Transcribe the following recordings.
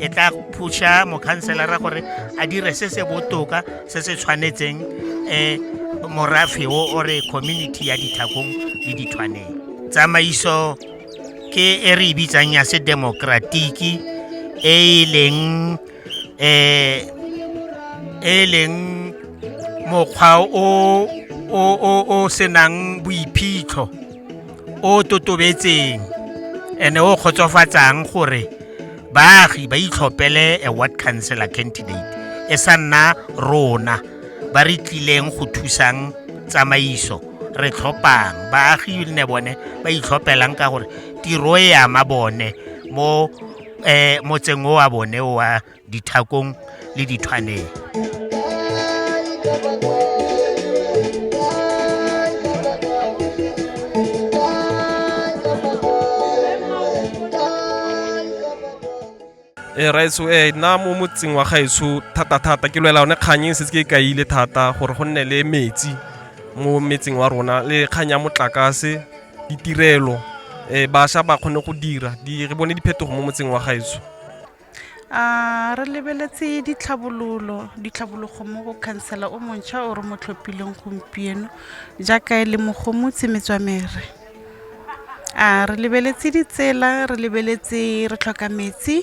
e tla phusha mokhanselara gore a dire se se botoka se se tshwanetseng um morafe o ore community ya dithakong le dithwaneng tsamaiso ke e re e bitsang ya se demokratiki e e leng um e leng mokgwa o o senang boiphitlho o totobetseng ene o kgotsofatsang gore baagi ba itlhopele a ward councilor candidate e sa nna rona ba re tlileng go thusang tsamaiso re tlhophang baagi ne bone ba itlhophelang ka gore tiro e ama bone mo um motseng o wa bone wa dithakong le dithwaneng e eh, raitso e eh, nna mo motseng wa gaetsho thata-thata ke lwela one kgang e setse ke ka ile thata gore go nne le metsi mo metseng wa rona le kgang ya motlakase ditirelo um eh, bašwa ba kgone go dira re bone diphetogo mo motseng wa gaetsho a re lebeletse ditlhabololo ditlhabologo mo go khansela o montšha o re mo tlhophileng gompieno jaaka e le mogomotsi metswamere a re lebeletse ditsela re lebeletse re tlhoka metsi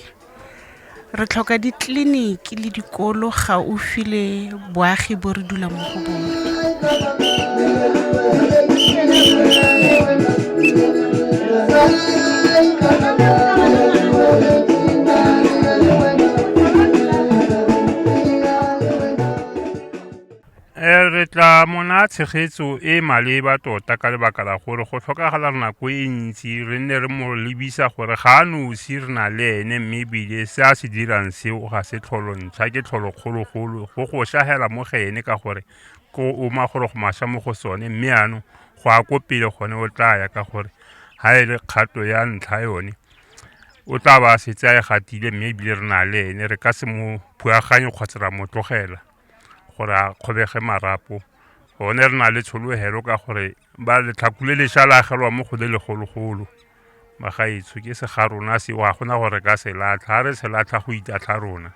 re tlhoka ditleliniki le dikolo gaufi le boagi bo re dulang mo go bone Eh, re tla mona tshegetso e e maleba tota ka lebaka la gore go tlhokagala nako e ntsi re nne re mo lebisa gore ga a nosi re na le ene mme ebile se a se dirang seo ga se tlholong ga ke tlholo kgologolo go go shagela mo ga ene ka gore ko o ma gore go masha mo go sone mme ano go a ko pele gone o tla ya ka gore ha e le kgato ya ntlha yone o tla ba setse a e gatile mme ebile re na le ene re ka se mo phuaganye kgotsa ra mo tlogela gore a kgobege marapo gone re na le tshologelo ka gore ba letlhakule le sha la agelwa mo go le legologolo Magaetsho ke se ga rona se wa gona gore ka se latlha ha re se latlha go itatlha rona.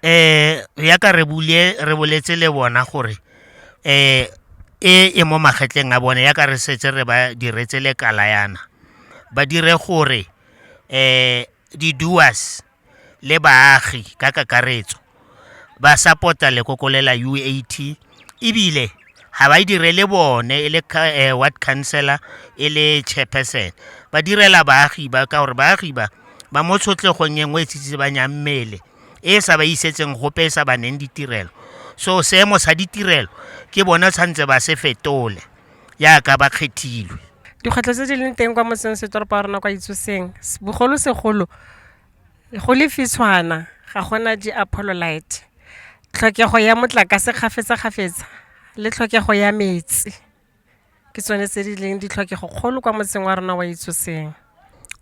Eh ya ka re bule re boletse le bona gore eh e e mo magetleng a bone ya ka re setse re ba diretse le kala yana ba dire gore eh Di-doers le baagi ka kakaretso ba sapota lekoko le la UAT ebile ga ba e direle bone e le eh, ward councillor e le chairperson ba direla baagi ba ka gore baagi ba ba mo tshotlhegong e nngwe e tsitsibanyang mmele e sa ba isetseng gope e sa ba neng ditirelo so seemo sa ditirelo ke bone tshwanetse ba se fetole yaka ba kgethilwe. Dikgwetlho tse di leng teng kwa motseng setoropo wa rona kwa Itsoseng bogolo segolo go le fitshwana ga gona di a pholo light. Tlhokego ya motlakase kgafetsa kgafetsa le tlhokego ya metsi ke tsone tse di leng ditlhokego kgolo kwa motseng wa rona wa Itsoseng.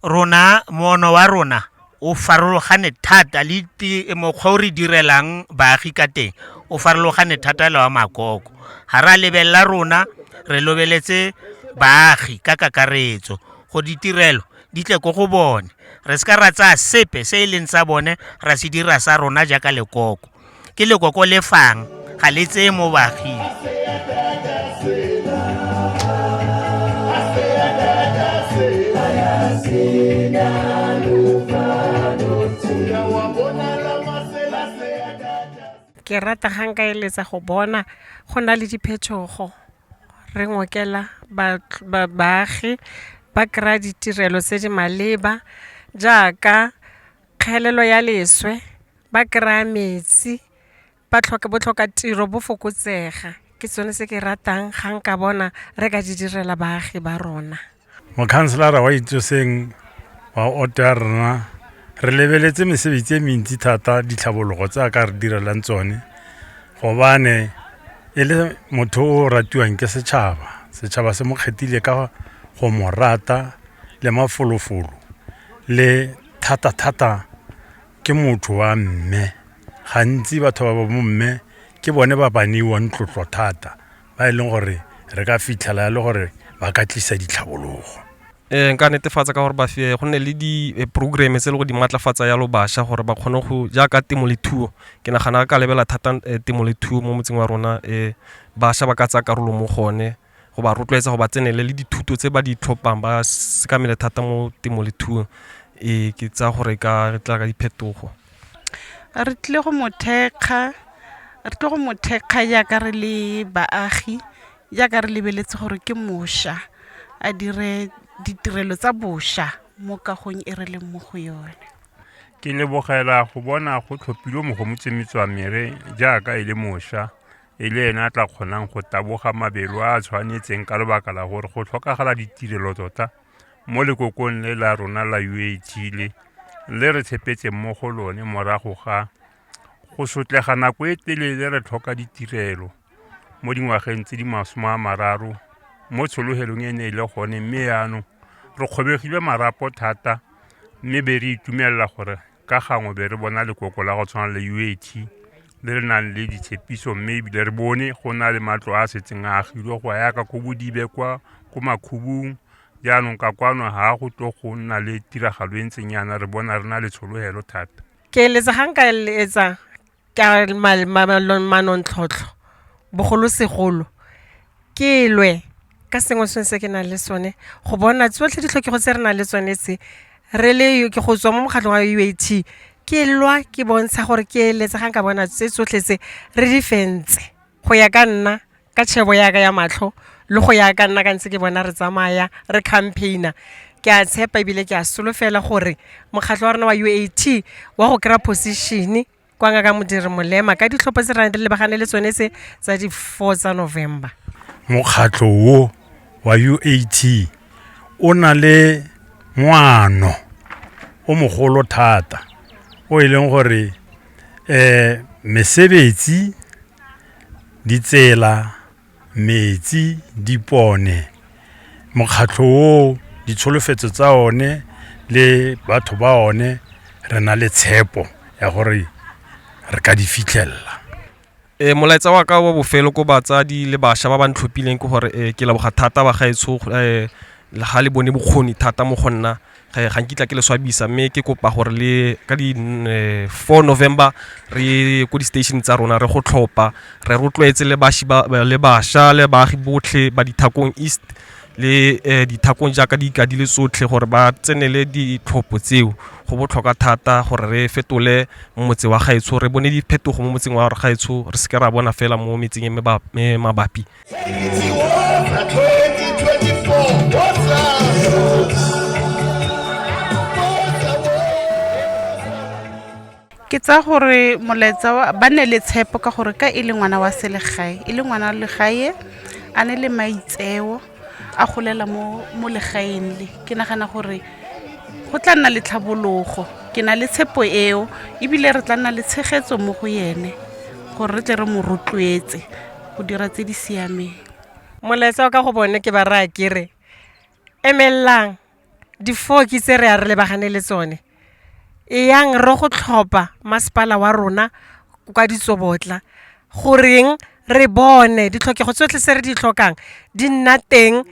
Rona, moono wa rona o farologane thata le mokgwa o re direlang baagi ka teng o farologane thata le wa makoko ga re a lebelela rona re lobeletse baagi ka kakaretso go ditirelo di tle ko go bone re se ka ra tsaya sepe se e leng tsa bone ra se dira sa rona jaaka lekoko ke lekoko le fang ga le tseye mo baaging ke rata gang ka eletsa go bona go na le diphetogo re ngokela baagi ba kry-a ditirelo tse di maleba jaaka kgelelo ya leswe ba kry-a metsi ba tlhoka botlhoka tiro bo fokotsega ke sone se ke ratang ga nka bona re ka di direla baagi ba rona mokhanselara wa itsoseng wa oto ya rona re lebeletse mesebetsi e mentsi thata ditlhabologo tse a ka re direlang tsone gobane e le motho o ratiwang ke setšhaba setšhaba se mo kgethile ka go mo rata le mafolofolo le thata-thata ke motho wa mme gantsi batho ba ba mo mme ke bone ba ba neiwang tlotlo thata ba e leng gore re ka fitlhela le gore ba ka tlisa ditlhabologo eh nka netefatsa ka gore ba fe go nne le di eh, programme tse le go di matlafatsa yalo basha gore ba kgone go jaaka temo le thuo ke nagana ka lebela thata eh, temo le thuo mo motseng wa rona eh basha ba ka tsaya karolo mo gone go ba rotloetsa go ba tsenele le dithuto tse ba di tlhophang ba sekamele thata mo temo le thuong e ke tsa gore ka re tla ka diphetogo re tlile go mothekga re tle go mothekga jaaka re le baagi jaaka re lebeletse gore ke mosha a dire ditirelo tsa bosha mo kagong e re leng mo go yone ke lebogela go bona go tlhophilwe mogomotsemetswa mere jaaka e le mosha e le ene a tla kgonang go taboga mabelo a a tshwanetseng ka lebaka la gore go tlhokagala ditirelo tota mo lekokong le la rona la uat le le re tshepetseng mo go lone morago ga go sotlega nako e telele re tlhoka ditirelo mo dingwageng tse di masome a mararo mo tshologelong e ne e le gone mme yaanong re kgobegile marapo thata mme be re itumelela gore ka gangwe be re bona lekoko la go tshwana le uat le re nang le ditshepiso mme ebile re bone go na le matlo a setseng a agilwe go yaka ko bodibe kwa ko makhubung jaanong ka kwano ga go tlo go nna le tiragalo e ntseng yana re bona re na le tshologelo thata ke eletsa ga nka eletsa ka manontlhotlho bogolosegolo ke lwe ka sengwe se se ke nang le sone go bona tsotlhe ditlhokego tse re nang le tsone tse re le ke go tswa mo mokgatlho wa U_A_T ke lwa ke bontsha gore ke eletsa ga nka bona tse tsotlhe tse re di fentse. Go ya ka nna ka tšhebo ya ka ya matlho le go ya ka nna ka ntse ke bona re tsamaya re campaign-a ke a tshepa e bile ke a solofela gore mokgatlho wa rona wa U_A_T wa go kry-a position-e kwa ngaka modiri molema ka ditlhopho tse re lebagane le tsone tse tsa di four tsa November. Mokgatlho o wa U_A_T o na le moano o mogolo thata o e leng gore mesebetsi, ditsela, metsi, dipone, mokgatlho o, ditsholofetso tsa one le batho ba one re na le tshepo ya gore re ka di fitlhelela. Ee, molaetsa wa ka wa bofelo ko batsadi le bašwa ba ba ntlhophileng ke gore ee, ke leboga thata ba gaetsho um ga le bone bokgoni thata mo go nna ga ga nkitla ke le swabisa mme ke kopa gore le ka di um four november re ye ko di-station tsa rona re go tlhopha re rotloetse le baši ba le bašwa le baagi botlhe ba dithakong east le eh, dithakong jaaka di ikadile tsotlhe gore ba tsenele ditlhopho tseo go botlhokwa thata gore re fetole motse wa gaetsho re bone diphetogo mo motseng wa gaetsho re seke ra bona fela mo metseng e mabapi ke tsa gore molaetsa ba ne le tshepo ka gore ka e le ngwana wa selegae e le ngwana wa legae a ne le maitseo a golela mo mo legaeng le ke nagana gore go tla nna le tlhabologo ke na le tshepo eo ebile re tla nna le tshegetso mo go yene gore re tle re mo rotloetse go dira tse di siameng molaetsa wa ka go bone ke ba raya kere emelelang Difoki tse re a re lebagane le tsone e yang re go tlhopha masepala wa rona kwa ditsobotla goreng re bone ditlhokego tsotlhe se re di tlhokang di nna teng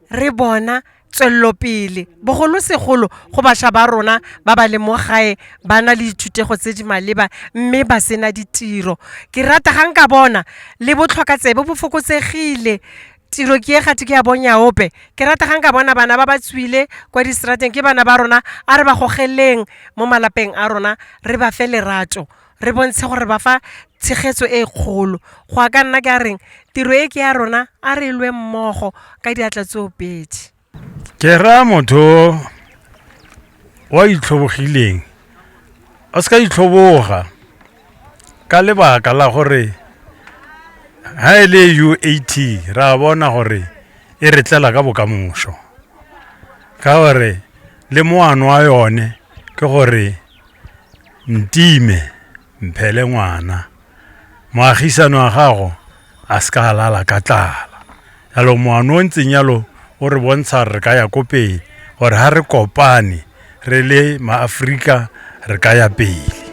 re bona tswelelopele bogolosegolo go bašwa ba rona ba ba leng mo gae ba na le dithutego tse di maleba mme ba sena ditiro ke rata ga nka bona le botlhokatsebe bo fokotsegile tiro ke e ga ke ya bonya ope ke rata ga nka bona bana ba ba tswile kwa distrateng ke bana ba rona a re ba gogeleng mo malapeng a rona re ba fe lerato re bontshe gore ba fa tshegetso e kgolo go a ka nna ke a reng tiro e ke ya rona a re lwe mmogo ka diatla tsoopedi ke raya motho wa itlhobogileng a se ka itlhoboga ka lebaka la gore ha e le uat ra bona gore e re tlela ka bokamoso ka gore le moano wa yone ke gore ntime Mphele ngwana, moagisano wa gago a se ka lala ka tlala. Yalo moano o ntseng yalo o re bontsha re ka ya ko pele, gore ha re kopane re le maaforika re ka ya pele.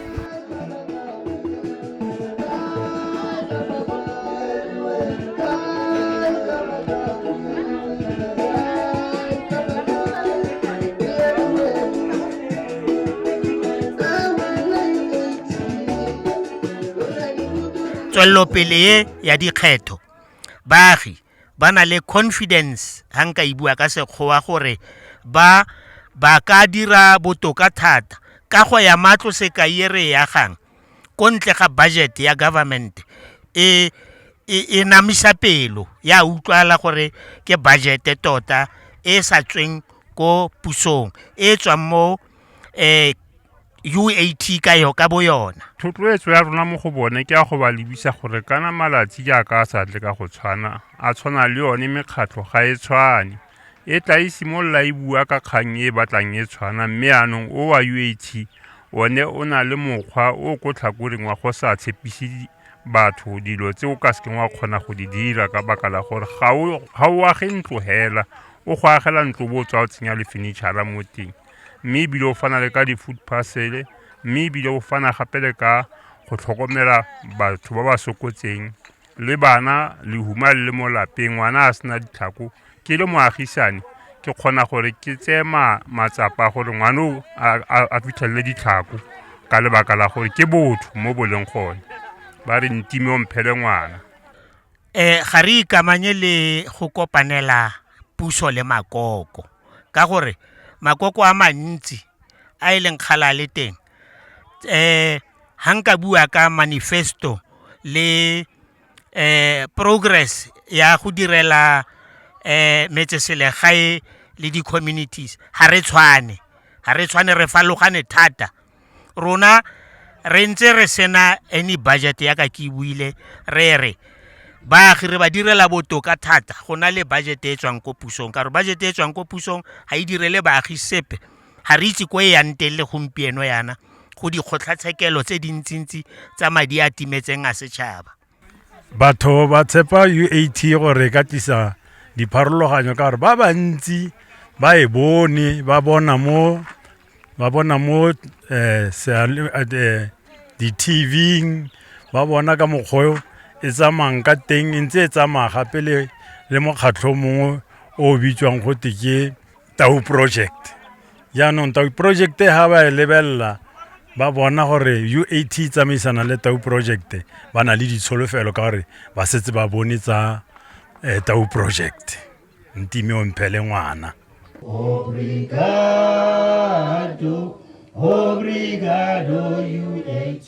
tswelelopele e ya dikgetho baagi ba na le confidence ga nka e bua ka sekgowa gore ba ba ka dira botoka thata ka go ya matlo sekai e re e agang ko ntle ga budget ya government e e namisa pelo ya utlwala gore ke budget tota e sa tsweng ko pusong e tswang mo eh UAT ka yo ka bo yona thotloetso ya rona mo go bone ke ya go ba lebisa gore kana malatsi jaaka a sa tle ka go tshwana a tshwana le yone mekgatlho ga e tshwane e tla e simolola e bua ka kgang e e batlang e tshwana mme anong o wa UAT one o na le mokgwa o ko tlhakoreng wa go sa tshepise batho dilo tse o ka sekeng wa kgona go di dira ka baka la gore ga o age ntlo hela o go agela ntlo bo o tswa o tsenya le furniture mo teng mme ebile o fana le ka di-food parcel mme ebile o fana gape le ka go tlhokomela batho ba ba sokotseng le bana lehuma le le mo lapeng ngwana a sena ditlhako ke le moagisane ke kgona gore ke tseye matsapa gore ngwana o a fitlhelele ditlhako ka lebaka la gore ke botho mo boleng gone ba re ntime o mphele ngwana um ga re ikamanye le go kopanela puso le makoko ka gore makoko a mantsi a e leng kgala le teng um ha nka bua ka manifesto le progress ya go direla metseselegae le di-communities ga re tshwane ga re tshwane re farologane thata rona re ntse re sena any budget ya ka ke buile re re baagi re ba direla botoka thata go na le budget e tswang ko pusong ka gore budget e tswang ko pusong ga e direle baagi sepe Ga re itse ko e yang teng le gompieno yana go dikgotlhatshekelo tse dintsintsi tsa madi a timetseng a setšhaba. Batho ba tshepa UAT gore e ka tlisa dipharologanyo ka gore ba bantsi ba e bone ba bona mo ba bona mo eh, eh, eh di-tvng ba bona ka mokgwa e tsamayang ka teng e ntse e tsamaya gape le mokgatlho mongwe o bitswang gote ke tau project jaanong tau project ga ba e lebelela ba bona gore uat e tsamaisana le tau project ba na le ditsholofelo ka gore ba setse ba bone tsa eh, tau project ntime o mphele ngwana Obrigado, obrigado, UAT.